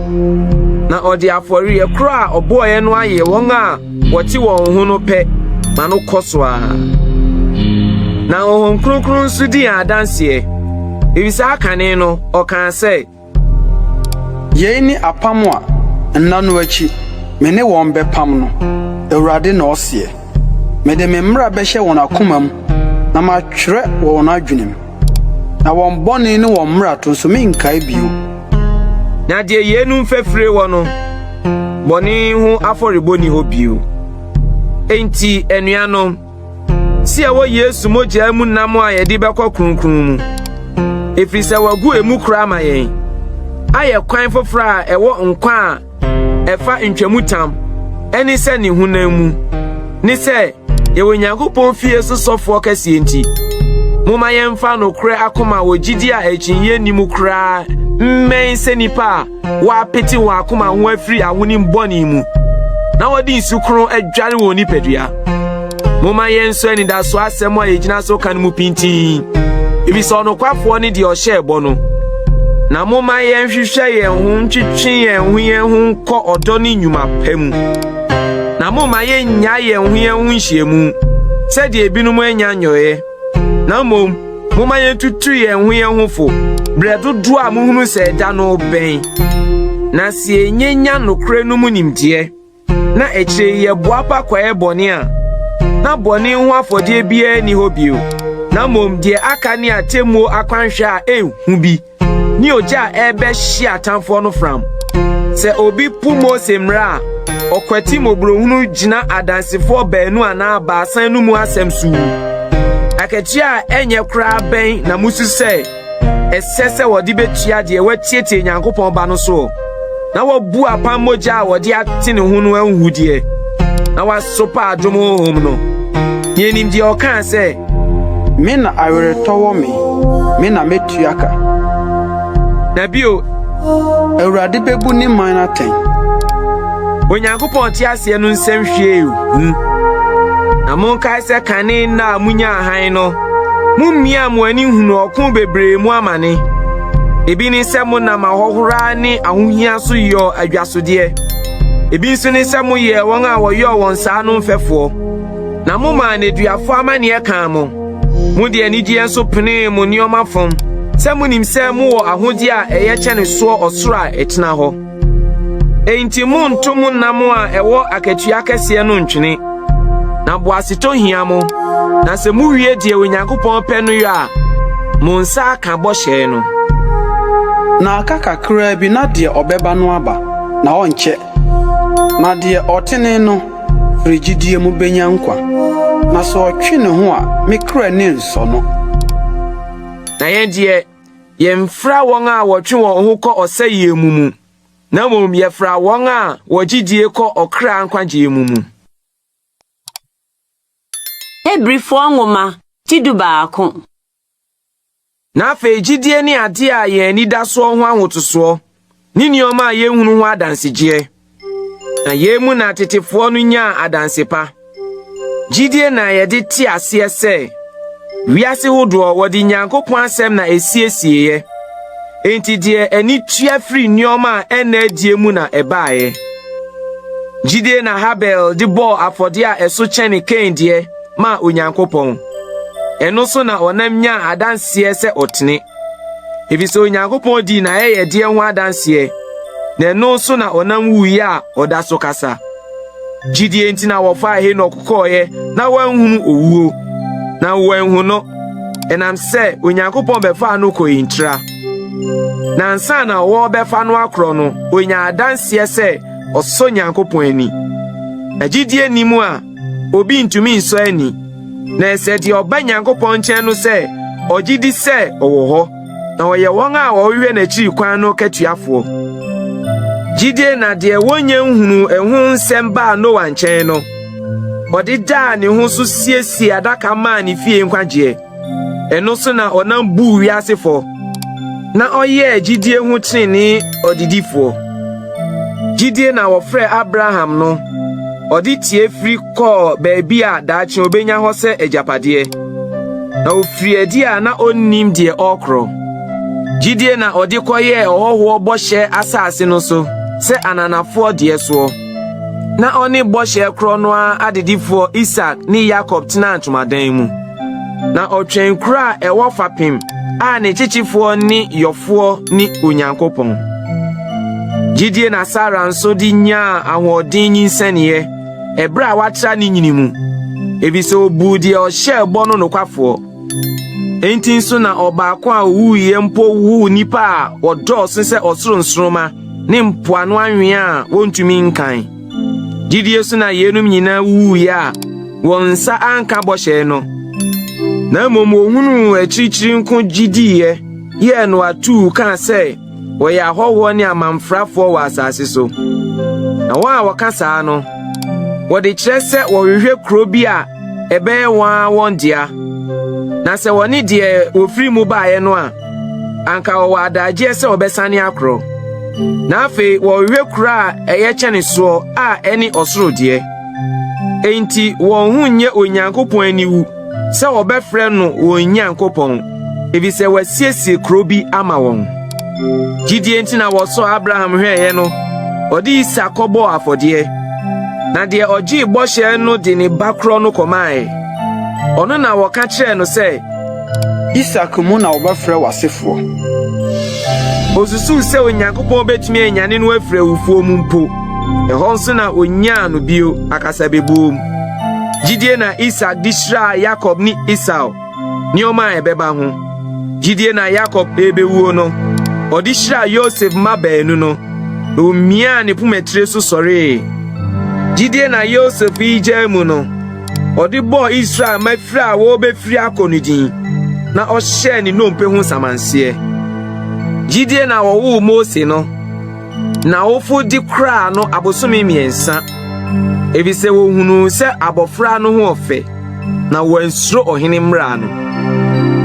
na ɔde afɔreɛ korɔ a ɔbɔeɛ no ayɛ wɔn a Wɔte wɔn ho no pɛ ma no kɔ so ara, na Honhom Kronkron nso di yɛn adanseɛ. Ɛfiri saa kane no, ɔkaa sɛ. Yei ne apam a nna no akyi me ne wɔn bɛpam no, Awurade na ɔseɛ. Mede me mmara bɛhyɛ wɔn akomam na matwerɛ wɔ wɔn adwenem. Na wɔn bɔne ne wɔn mmarato nso, merenkae bio. Na deɛ yeinom fafire wɔ no, bɔne ho afɔrebɔ nni hɔ bio. Enti, anuanom, si a ɛwɔ Yesu mogyaa mu nam a yɛde bɛkɔ kronkron mu, ɛfiri sɛ wɔagu emu koraa ama yɛn, ayɛ kwan foforɔ a ɛwɔ nkwa a ɛfa ntwamutam ne sɛ ne honam mu ne sɛ yɛwɔ Onyankopɔn fie so sɔfoɔ kɛseɛ nti, momma yɛmfa nokorɛ akoma wɔ gyidie a akyinnye nni mu koraa mmɛn sɛ nnipa a wɔapete wɔn akoma ho afiri ahonim bɔne mu na wɔde nsu kronn adware wɔn nipadua. Momma yɛnsɔ anidaso asɛm a yɛgyina so ka no mu pintinn, efisɛ ɔnokwafoɔ ne deɛ ɔhyɛɛ bɔ no. Na momma yɛnhwehwɛ yɛn ho ntwetwe yɛn ho yɛn ho nkɔ ɔdɔ ne nnwuma pa mu. Na momma yɛnnya yɛn ho yɛn ho nhyiamu sɛdeɛ ebinom anya nyɔeɛ, na mmom momma yɛntutu yɛn ho yɛn ho fo berɛ dodoɔ a mohunu sɛ ɛda no bɛn, na sɛ yɛnyanya nokorɛ no mu nimdeɛ. na akyire yi yɛboa pa kɔyɛ bɔne a, na bɔne ho afɔdeɛ biara nni hɔ bio, na mmom deɛ aka ne atemmuo akwanhwɛ a ɛnhu bi ne ogya a ɛrebɛhye atamfoɔ no fram. Sɛ obi po Mose mmara a, ɔkwati mmɔborɔhunu gyina adansefoɔ baanu anaa baasa no mu asɛm so wu. Akatua a ɛnyɛ koraa bɛn na musu sɛ ɛsɛ sɛ wɔde betua deɛ watietie Nyankopɔn Ba no soɔ na wabu apam mogya a wɔde ate ne ho no ahuhudeɛ na wasopa adom honhom no. Yɛnim deɛ ɔkaa sɛ, Me na aweretɔ wɔ me, me na metua ka. Na bio, Awurade bebu ne man atɛn. Onyankopɔn te aseɛ no nsɛm hwiee hu. Na monkae sɛ kane nna a munyaa hann no, Mummia mo ani nhunu ɔko bebree mu amane. Ebi ne sɛ monam ahohora ne ahohia so yɔɔ adwasodeɛ. Ebi nso ne sɛ moyɛɛ wɔn a wɔyɔɔ wɔn saa no mfɛfoɔ, na momaa nneduafoɔ amanneɛ kaa mo. Mode anigyeɛ nso penee mo nneɛma fam sɛ monim sɛ mowɔ ahodeɛ a ɛyɛ kyɛne soɔ ɔsoro a ɛtena hɔ. Enti monnto mo nam a ɛwɔ akatua kɛseɛ no ntwene, na boasetɔ hia mo. Na sɛ muwie deɛ Onyankopɔn pɛ no yɔ a, mo nsa aka bɔhyɛ no. Na aka kakraa bi na deɛ ɔbɛba no aba, na ɔnkyɛ na deɛ ɔtene no firi gyidie mu bɛnya nkwa, na sɛ ɔtwe ne ho a, me kra nni nsɔ no. Na yɛn deɛ, Yɛmfra wɔn a wɔtwe wɔn ho kɔ ɔsɛeɛ mu mu, na mmom yɛfra wɔn a wɔgye die kɔ ɔkra nkwagyeɛ mu mu. Hebrifoɔ nwoma ti dubaako. Na afei gyidie ne adeɛ a yɛn ani da soɔ ho ahotosoɔ. ne nneɛma a yɛnhunu ho adansegyeɛ, na yei mu na tetefoɔ no nyaa adanse pa. Gyidie na yɛde te aseɛ sɛ wiase hodoɔ wɔde Nyankopɔn asɛm na ɛsiesieeɛ, enti deɛ ani tua firi nneɛma a ɛnna adie mu na ɛbaeɛ. Gyidie na Habel de bɔɔ afɔdeɛ a ɛso kyɛne Kain deɛ maa Onyankopɔn. Ɛno so na ɔnam nyaa adanseɛ sɛ ɔtene. efisɛ Onyankopɔn dii n'ayɛyɛdeɛ ho adanseɛ, na ɛno so na ɔnam wuiɛ a ɔda so kasa. Gyidie nti na wɔfaa Henok kɔeɛ na wanhunu owuo, na wɔanhu no, ɛnam sɛ Onyankopɔn bɛfaa no kɔɔ ntira. Na ansa na wɔrebɛfa no akorɔ no, ɔnyaa adanseɛ sɛ ɔsɔ Nyankopɔn ani. Na gyidie nni mu a Obi ntumi nsɔ ani, na ɛsɛ deɛ ɔba Nyankopɔn nkyɛn no sɛ ɔgye di sɛ ɔwɔ hɔ, na ɔyɛ wɔn a wɔhwehwɛ n'akyiri kwan no katuafoɔ. Gyidie na deɛ wɔnnya nhunuu ɛho nsɛm baa Noa nkyɛn no, ɔde daa ne ho so siesiee adaka maa ne fie nkwagyeɛ. Ɛno so na ɔnam buu wiase fɔ, na ɔyɛɛ gyidie ho trenee ɔdedifoɔ. Gyidie na wɔfrɛ Abraham no, ɔde tie firi kɔɔ baabi a daakye ɔbɛnya hɔ sɛ agyapadeɛ, na ɔfiri adi a na ɔnnim deɛ ɔrekorɔ. Gyidie na ɔde kɔyɛɛ ɔhɔhoɔ bɔhyɛ asase no so sɛ ananafoɔ deɛ soɔ. Na ɔne bɔhyɛ korɔ no ara adedifoɔ Isak ne Yakob tenaa ntomadan mu. Na ɔtwɛn kuro a ɛwɔ fapem a ne kyekyefoɔ ne yɔfoɔ ne Onyankopɔn. Gyidie na Sara nso de nyaa ahoɔden nyinsɛneeɛ ɛberɛ a watra ne nyini mu, efisɛ ɔbuu deɛ ɔhyɛɛ bɔ no nokwafoɔ. Enti nso na ɔbaako a owuiɛ mpo woo nnipa a wɔdɔɔso sɛ ɔsoro nsoromma ne mpoano anwea a wɔntumi nkan. Gyidie so na yeinom nyinaa wuwuiɛ a wɔn nsa anka bɔhyɛ no, na mmom wɔhunuu akyirikyiri nko gye diiɛ yɛɛ no atuu kaa sɛ wɔyɛ ahɔhoɔ ne amamfrafoɔ wɔ asase so. Na wɔn a wɔka saa no, wɔde kyerɛ sɛ wɔhwehwɛ kuro bi a ɛbɛyɛ wɔn ara wɔn dea, na sɛ wɔne deɛ wɔfiri mu baeɛ no a, anka wɔwɔ adagyeɛ sɛ wɔbɛsane akorɔ. Na afei wɔrehwɛ kuro a ɛyɛ kyɛne soɔ a ɛne ɔsoro deɛ. Enti wɔn ho nyɛ Onyankopɔn aniwu sɛ wɔbɛfrɛ no wɔn Nyankopɔn, efisɛ wasiesie kuro bi ama wɔn. Gyidie nti na wɔsɔɔ Abraham hwɛeɛ no, ɔde Isak kɔbɔɔ afɔdeɛ. Na deɛ ɔgyee bɔhyɛ no de ne ba korɔ no kɔmaeɛ. Ɔno na wɔka kyerɛɛ no sɛ, Isak mu na wɔbɛfrɛ w'asefoɔ. Osusuw sɛ Onyankopɔn betumi anyane no afiri awufoɔ mu mpo. Ɛhɔ nso na onyaa no bio akasabebuom. Gyidie na Isak de hyiraa Yakob ne Esau, nneɛma a ɛbɛba ho. Gyidie na Yakob rebewuo no, ɔde hyiraa Yosef mma baanu no, na omiaa ne pomatire so sɔree. Gyidie na Yosef regyaa mu no, Ɔde bɔɔ Israel mma firi a wɔrebefiri akɔ no din, na ɔhyɛɛ ne nnompe ho nsamanseɛ. Gyidie na wɔwoo Mose no, na awofo de koraa no abosome mmiɛnsa, efisɛ wɔhunuu sɛ abɔfra no ho ɔfɛ, na wɔansuro ɔhene mmara no.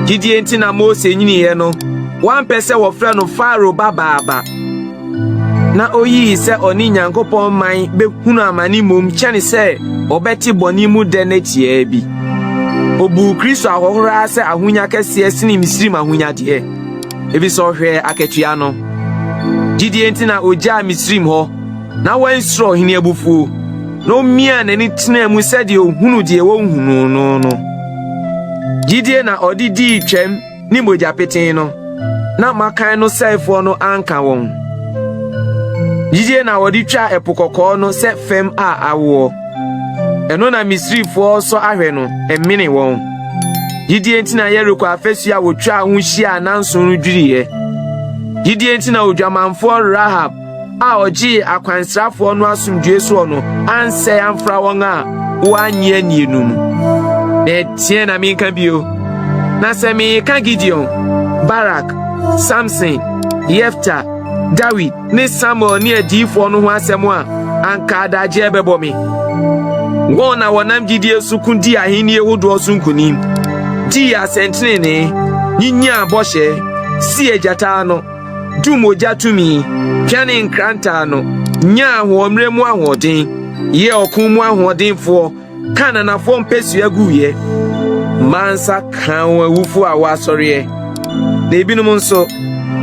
Gyidie nti na Mose nyiniiɛ no, wɔampɛ sɛ wɔfrɛ no Farao babaaba. na oyii sɛ ɔne Nyankopɔn man bɛhunu amane mmom kyɛne sɛ ɔbɛte bɔne mu dɛ no tiaa bi. Obuu Kristo ahohora sɛ ahonya kɛseɛ sene Misraim ahonyadeɛ, efisɛ ɔhwɛɛ akatua no. Gyidie nti na ogyaa Misraim hɔ na wansuro ɔhene abufuo, na omiaa n'ani tenaa mu sɛdeɛ ohunu deɛ wɔnhunuu no no. Gyidie na ɔde dii twam ne mogya petee no, na mmakan no sɛefoɔ no anka wɔn. Gyidie na wɔde twaa Ɛpo Kɔkɔɔ no sɛ fam a awoɔ. Ɛno na Misrifoɔ sɔ ahwɛ no mene wɔn. Gyidie nti na Yeriko afasuo a wɔtwaa ho hyiaa nanso no dwiriiɛ. Gyidie nti na odwamanfoɔ Rahab a ɔgyee akwansrafoɔ no asomdwoe soɔ no ansɛe amfra wɔn a wɔannye annie no mu. Na ɛteɛ na menka bio. Na sɛ meka Gideon, Barak, Samson, Yefta, Dawid ne Samuel ne adiyifoɔ no ho asɛm a, anka adagyeɛ bɛbɔ me. Wɔn na wɔnam gyidie so ko dii ahennie hodoɔ so nkonim, dii asɛntenenee, nyinyaa bɔhyɛ, si agyata ano, du mogya tumi, pianee nkranta ano, nyaa ahoɔmmerɛ mu ahoɔden, yɛɛ ɔko mu ahoɔdenfoɔ, kaa nanafoɔ mpasua guiɛ, maa nsa kaa wɔn awufoɔ a wɔasɔreɛ, na ebinom nso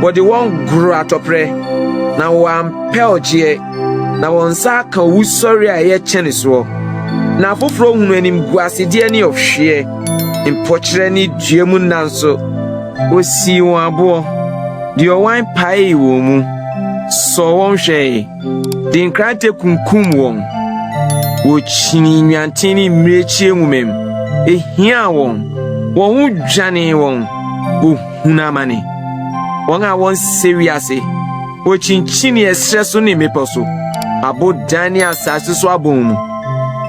wɔde wɔn goro atɔprɛ, na wɔampɛ ɔgyeɛ, na wɔn nsa aka owusɔre a ɛyɛ kyɛne soɔ, na afoforɔ hunu animguasedeɛ ne ɔhweɛ, mpɔkyerɛ ne dua mu nna nso. Osii wɔn aboɔ, de ɔwan paee wɔn mu, sɔɔ wɔn hwɛe, de nkrantɛ kunkum wɔn. Wɔkyinii nnwanten ne mmirekyie nwomam, ehiaa wɔn, wɔn ho dwanee wɔn, wɔhunu amane. Wɔn a wɔnsɛ wiase, wɔkyinkyinii ɛserɛ so ne mmepɔ so, abodan ne asase so abɔn mu.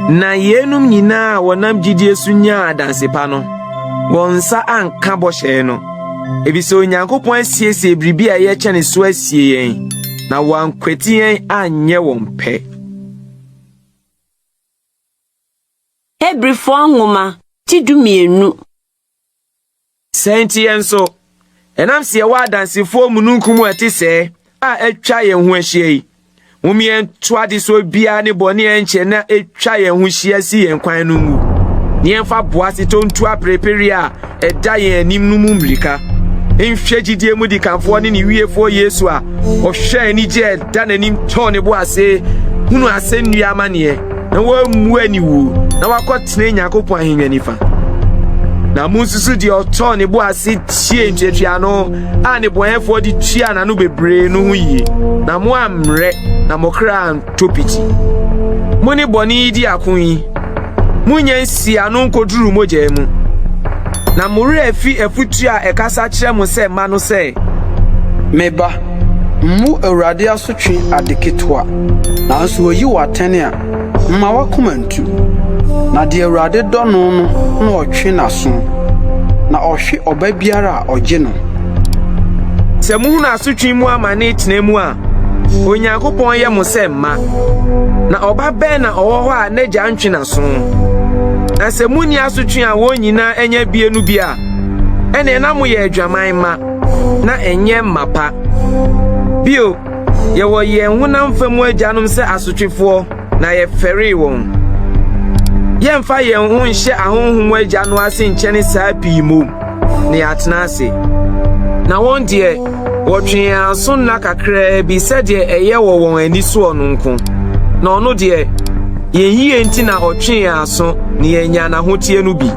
Na yeinom nyinaa a wɔnam gyidie so nyaa adanse pa no, wɔn nsa anka bɔhyɛ no, efisɛ Onyankopɔn asiesie biribi a ɛyɛ kyɛne so asie yɛn, na wɔankwati yɛn anyɛ wɔn pɛ. Hebrifoɔ nwoma ti dumienu. Sɛ nti yɛn nso, Ɛnam sɛ yɛwɔ adansefoɔ mununkum a ɛte sɛɛ a atwa yɛn ho ahyia yi, mom yɛnto adesoɔ biara ne bɔne a ɛnkyɛ na atwa yɛn ho hyia si yɛn kwan no ngu, na yɛmfa boasetɔ ntu aperepereɛ a ɛda yɛn anim no mu mmirika. Nhwɛ gyidie mu dikanfoɔ ne ne wiefoɔ Yesu a ɔhwɛɛ anigye a ɛda n'anim tɔɔ ne bo ase hunu asɛnnua amaneɛ. na wɔammu aniwu na wɔakɔtena Nyankopɔn ahengua nifa. Na munsusu deɛ ɔtɔɔ ne bo ase tiee ntuatuaano a nnebɔnɛfoɔ de tuaa n'ano bebree no ho yie, na mo ammrɛ na mo kra antɔ piti. Mo ne bɔne yi di ako yi, monnya nsi ano nkɔduru mogya mu. Na mo werɛ afi afutuo a ɛkasa kyerɛ mo sɛ mma no sɛ, Me ba, Mmu Awurade asotwe ade ketewa, nanso oyi wo atɛn a, mma w'akoma ntu. Na deɛ Awurade dɔ no no na ɔtwe n'aso, na ɔhwe ɔba biara a ɔgye no. Sɛ muhunu asotwe mu amane tena mu a, Onyankopɔn yɛ mo sɛ mma. Na ɔba bɛn na ɔwɔ hɔ a n'agya ntwe n'aso? Na sɛ munni asotwe a wɔn nyinaa anya abue no bi a, ɛnneɛ na moyɛ adwaman mma. na ɛnyɛ mapa. Bio, yɛwɔ yɛn honam fa mu agyanom sɛ asotwefoɔ, na yɛfɛree wɔn. Yɛmfa yɛn ho nhyɛ ahonhom mu agya no ase nkyɛne saa pii mmom, na yɛatena ase. Na wɔn deɛ, wɔtwe yɛn aso nna kakraa bi sɛdeɛ ɛyɛ wɔ wɔn ani soɔ no nko, na ɔno deɛ, yɛn yie nti na ɔtwe yɛn aso na yɛanya n'ahoteɛ no bi.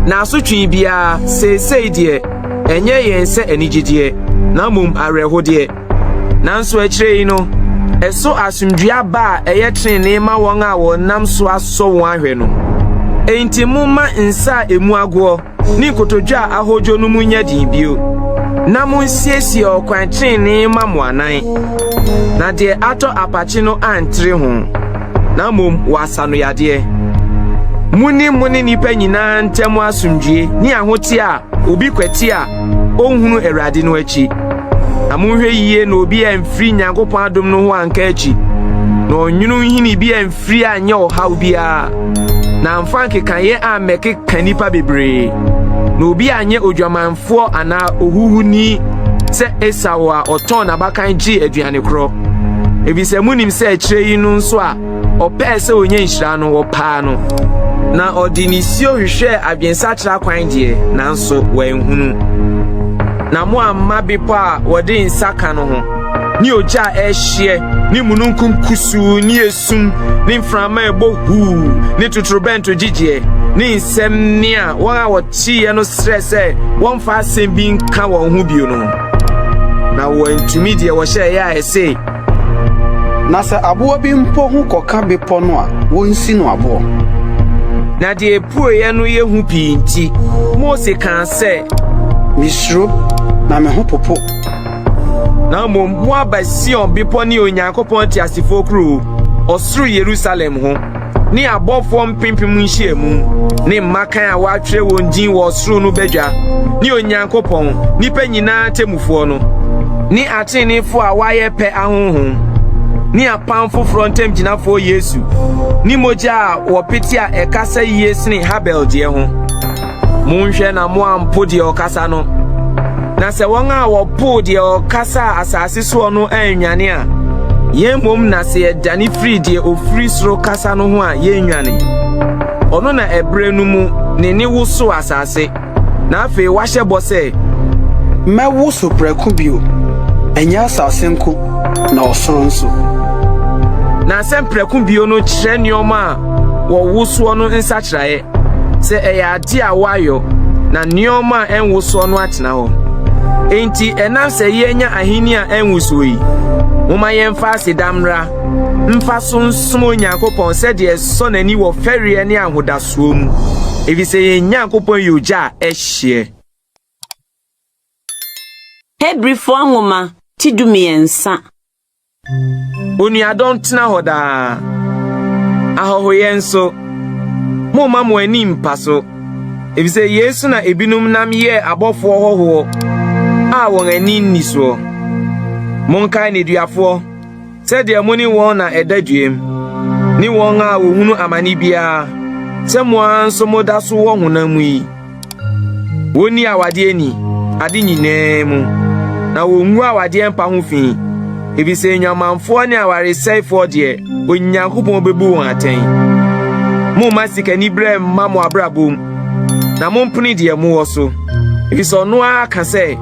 Na asotwe biara, seesei deɛ, Ɛnyɛ yɛn sɛ anigyedeɛ, na mmom awerɛhodeɛ. Nanso akyire yi no, ɛso asomdwoeɛ aba a ɛyɛ tenenee ma wɔn a wɔnam so asɔ wɔn ahwɛ no. Enti momma nsa a ɛmu agoɔ ne nkotodwe a ahodwo no mu nyɛ den bio, na monsiesie ɔkwan tenenee mma mo anan, na deɛ atɔ apakye no antere ho. na mmom wɔasa no yadeɛ. Monni mo ne nnipa nyinaa ntam asomdwoe ne ahoteɛ a obi kwati a ɔnhunu Awurade no akyi. Na monhwɛ yiye na obi amfiri Nyankopɔn adom no ho anka akyi, na ɔnwunu nhini bi amfiri anyɛ ɔhaw biara, na amfa nkekaeɛ ammɛkeka nnipa bebree, na obi anyɛ odwamanfoɔ foɔ anaa ohuhuni sɛ Esau a ɔtɔn n'abakan gyee aduane korɔ. Efisɛ munim sɛ akyire yi no nso a ɔpɛɛ sɛ ɔnya nhyira no, wɔpaa no. Na ɔde nisuo hwehwɛɛ adwensakyera kwan deɛ, nanso wanhunu. Na moamma bepɔ a wɔde nsa ka no ho, ne ogya a ɛrehyeɛ, ne mununkum kusuu ne sum ne mframa a ɛbɔ huu ne totorobɛnto gyigyeɛ ne nsɛm ne a wɔn a wɔteeɛ no srɛ sɛ wɔmfa asɛm bi nka wɔn ho bio no na wɔantumi deɛ wɔhyɛeɛ a ɛse na sɛ aboa bi mpo ho kɔka bepɔ no a wɔnsi no aboɔ na deɛ ɛpueeɛ no yɛ hu pii nti mose kaa sɛ mesuro na me ho popo Na mmom moaba Sion bepɔ ne Onyankopɔn teasefoɔ kurow, ɔsoro Yerusalem ho, ne abɔfoɔ mpempem nhyiamu, ne mmakan a wɔatwerɛ wɔn din wɔ ɔsoro no badwa, ne Onyankopɔn, nnipa nyinaa temmufoɔ no, ne ateneneefoɔ a wɔayɛ pɛ ahonhom, ne apam foforɔ ntamgyinafoɔ Yesu, ne mogya a wɔpete a ɛkasa yie sene Habel deɛ ho. Monhwɛ na moampo deɛ ɔkasa no. Na sɛ wɔn a wɔpoo deɛ ɔkasaa asase soɔ no annwane a, yɛn mmom na sɛ yɛdane firi deɛ ɔfiri soro kasa no ho a, yɛnnwane. Ɔno na ɛberɛ no mu ne ne woso asase, na afei wahyɛ bɔ sɛ, Mɛwoso prɛko bio, ɛnyɛ asase nko, na ɔsoro nso. Na asɛm prɛko bio no kyerɛ nneɛma a wɔwosoɔ no nsakyeraeɛ. Sɛ ɛyɛ ade a wɔayɔ na nneɛma a ɛnwosoɔ no atena hɔ. Enti ɛnam sɛ yɛanya ahenni a ɛnwosoɔ yi, momma yɛmfa aseda mmra mfa so nsom Onyankopɔn sɛdeɛ ɛsɔ n'ani wɔ fɛreɛ ne ahodasoɔ mu, ɛfiri sɛ yɛn Nyankopɔn yɛ ogya a ɛhyeɛ. Hebrifoɔ nwoma ti dumiɛnsa. Onuadɔ ntena hɔ daa. Ahɔhoyɛ nso, momma mo ani mmpa so, efisɛ yei so na ebinom nam yɛɛ abɔfoɔ hɔhoɔ a wɔn ani nni soɔ. Monkae nneduafoɔ sɛdeɛ mo ne wɔn na ɛda dwam, ne wɔn a wɔhunu amane biara sɛ mo ara nso moda so wɔ honam mu yi. Wonni awadeɛ ni ade nyinaa mu, na wongu awadeɛ mpa ho fi, efisɛ nnwamanfoɔ ne awaresɛefoɔ deɛ, Onyankopɔn bebu wɔn atɛn. Momma sikaniberɛ mma mo abrabɔ mu, na mompene deɛ mowɔ so, efisɛ ɔno ara ka sɛ,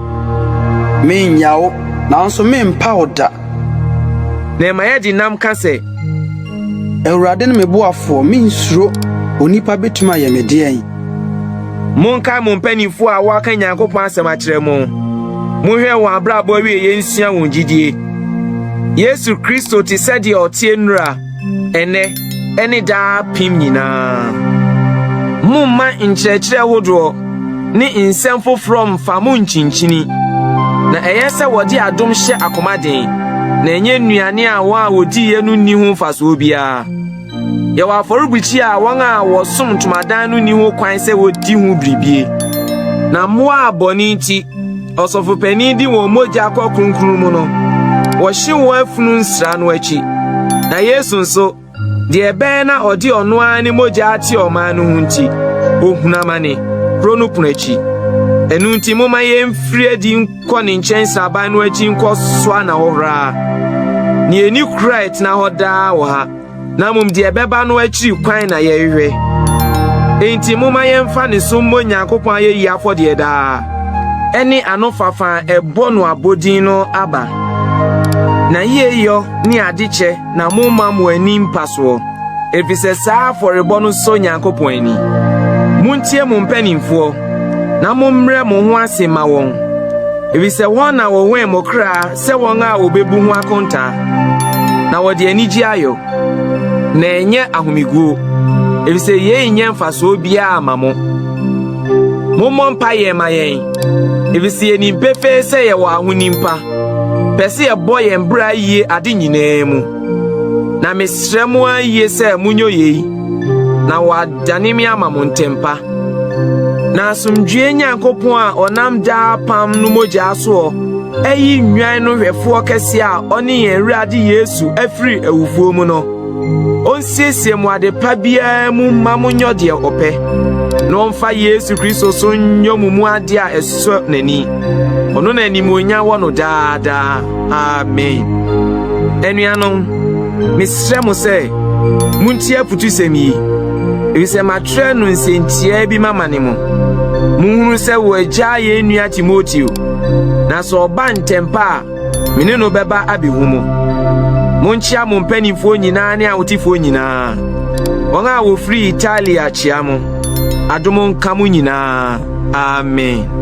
Mennya wo, nanso merempa wo da. Na ɛma yɛde nam ka sɛ. Awurade ne me boafoɔ, merensuro. Onipa betumi ayɛ me deɛn? Monkae mo mpanyimfo a wɔaka Nyankopɔn asɛm akyerɛ mo. Monhwɛ wɔn abrabɔ awieeɛ nsua wɔn gyidie. Yesu Kristo te sɛ deɛ ɔteɛ nnura, ɛnɛ, ɛne daa pem nyinaa. Momma nkyerɛkyerɛ hodoɔ ne nsɛm foforɔ mfa mo nkyinkyini. Na ɛyɛ sɛ wɔde adom hyɛ akoma den, na ɛnyɛ nnuane a wɔn a wɔdiiɛ no nni ho mfasoɔ biara. Yɛwɔ afɔrebukyia a wɔn a wɔsom ntomadan no nni ho kwan sɛ wodi ho biribie. Na mmoa a bɔne nti ɔsɔfopanin de wɔn mogya kɔ kronkron mu no, wɔhye wɔn afunu nsra no akyi. Na Yesu nso, deɛ ɛbɛyɛ na ɔde ɔno ara ne mogya ate ɔman no ho nti, ohunu amane kuro no pono akyi. Ɛno nti, momma yɛmfiri adi kɔ ne nkyɛn nsraban no akyi nkɔ soa na hɔ horaa. Nea ani kura ɛtena hɔ daa wɔ ha, na mmom deɛ ɛbɛba no akyiri kwan na yɛhwehwɛ. Enti momma yɛmfa ne so mmɔ Nyankopɔn ayɛyi afɔdeɛ daa. Ɛne anofafa a ɛbɔ no abodin no aba. N'ayeyɔ ne adekyɛ na momma mo ani mpa soɔ, efisɛ saa afɔrebɔ no sɔ Nyankopɔn ani. Montie mo mpanimfoɔ, na mommrɛ mo ho ase ma wɔn, efisɛ wɔn na wɔwɛn mo kra sɛ wɔn a wɔbɛbu ho akontaa, na wɔde anigye ayɔ, na ɛnyɛ ahomeguo, efisɛ yei nyɛ mfasoɔ biara ma mo. Mommɔ mpaeɛ ma yɛn, efisɛ yɛnim pefee sɛ yɛwɔ ahonim pa. pɛ sɛ yɛbɔ yɛn bra yie ade nyinaa mu. Na mesrɛ mo ara yie sɛ monyɛ yei, na wɔadane me ama mo ntɛmpa. Na asomdwoeɛ Nyankopɔn a ɔnam daa apam no mogyaa soɔ ayi nnwan no hwɛfoɔ kɛseɛ a ɔne yɛn Awurade Yesu afiri awufoɔ mu no, onsiesie mo ade pa biara mu mma monyɔ deɛ ɔpɛ na ɔmfa yesu kristo so nyɔ mo mu ade a ɛsɔ n'ani ɔno na animuonya wɔ no daadaa amen anuanom mesrɛ mo sɛ montie aputusɛm yi efisɛ matwerɛ no nsɛntiaa bi mama ne mo monhunu sɛ wɔagyaa yɛn nua timoteo na sɛ ɔba ntɛmpa a Me ne no bɛba abehu mo. Monkyea mo mpanimfoɔ nyinaa ne ahotefoɔ nyinaa. Wɔn a wɔfiri Italia kyea mo. Adom nka mo nyinaa. Amen.